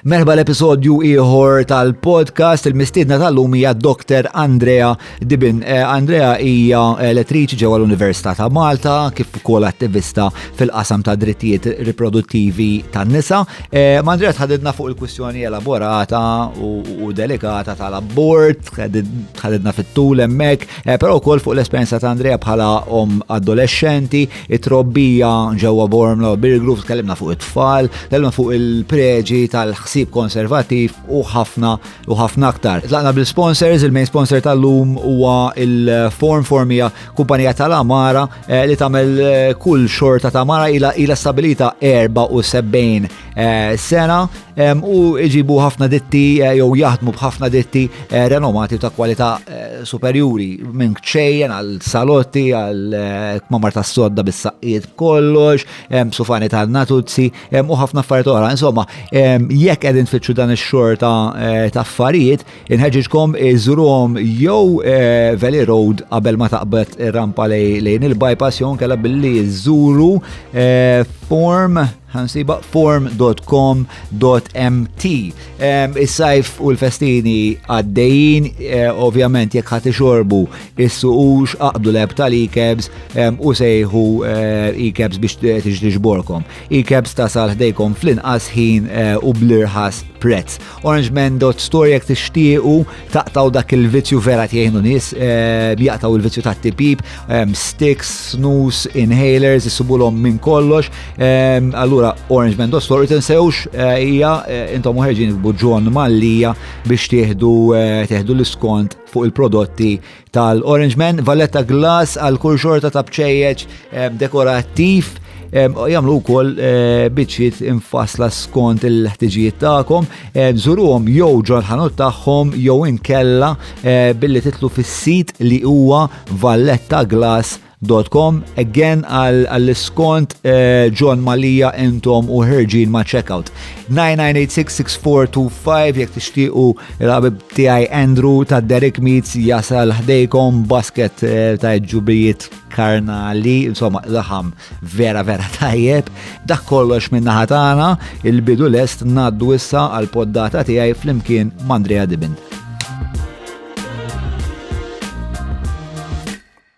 Merħba l-episodju ieħor tal-podcast il-mistiedna tal-lum hija Dr. Andrea Dibin. Eh, Andrea hija elettriċi ġewwa l-Università ta' Malta kif ukoll attivista fil-qasam ta' drittijiet riproduttivi tan-nisa. Eh, ma' Andrea tħadidna fuq il-kwistjoni elaborata u delikata tal-abort, tħadidna fit-tul hemmhekk, eh, però wkoll fuq l-esperjenza ta' Andrea bħala om adolescenti, it-trobbija ġewwa Bormla u Birgrove, tkellimna fuq it-tfal, tkellimna fuq il-preġi tal-ħsieb konservattiv u ħafna u ħafna aktar. Tlaqna bil-sponsors, il-main sponsor tal-lum huwa il-Form Formija kumpanija tal-Amara eh, li tagħmel eh, kull xorta ta' Amara ila stabilita 74 Eh, sena u iġibu ħafna ditti eh, jew jaħdmu b'ħafna ditti eh, renomati ta' kwalità superjuri minn ċejjen għal salotti għal kmamar ta' sodda bis-saqqiet b'kollox, sufani ta' natuzzi u ħafna affarijiet oħra. Insomma, jekk qegħdin tfittxu dan ix-xorta ta' affarijiet, Inħeġġiġkom iżuruhom jew eh, Valley Road qabel ma taqbad rampa lejn il-bypass jew kella billi iżuru eh, form ħansiba form.com.mt. Ehm, is-sajf u l-festini għaddejjin, eh, ovvjament jekk ħati xorbu is-suqux aqbdu leb tal-ikebs ehm, u sejħu ikebs biex tiġborkom. Ikebs tasal ħdejkom fl-inqas ħin u blirħas prezz. orangeman.store jek tixtiequ taqtaw dak il-vizzju vera tjejnu nis eh, jaqtaw il-vizzju ta' tipip, eh, sticks, snus, inhalers, jissubulhom minn kollox. Eh, allura orangeman.store tinsewx hija intom uħerġin buġġon mallija biex tieħdu l-iskont fuq il-prodotti tal-Orange Man, Valletta Glass għal kull xorta ta' bċejjeġ ehm, dekorattiv ehm, jamlu kol eh, biċċiet infasla skont il-ħtiġijiet ta'kom, ehm, zuruhom jew ġol-ħanut tagħhom jew inkella eh, billi titlu fis-sit li huwa Valletta Glass Com, again għall-iskont eh, John Malija entom u ħerġin ma' checkout. 99866425 jek tixtiqu il-għabib tiegħi Andrew ta' Derek Meets jasal ħdejkom basket eh, ta' ġubijiet karnali, insomma, laħam vera vera tajjeb. Dak kollox minna ħatana, il-bidu lest naddu issa għal-poddata tiegħi flimkien Mandrea Dibin.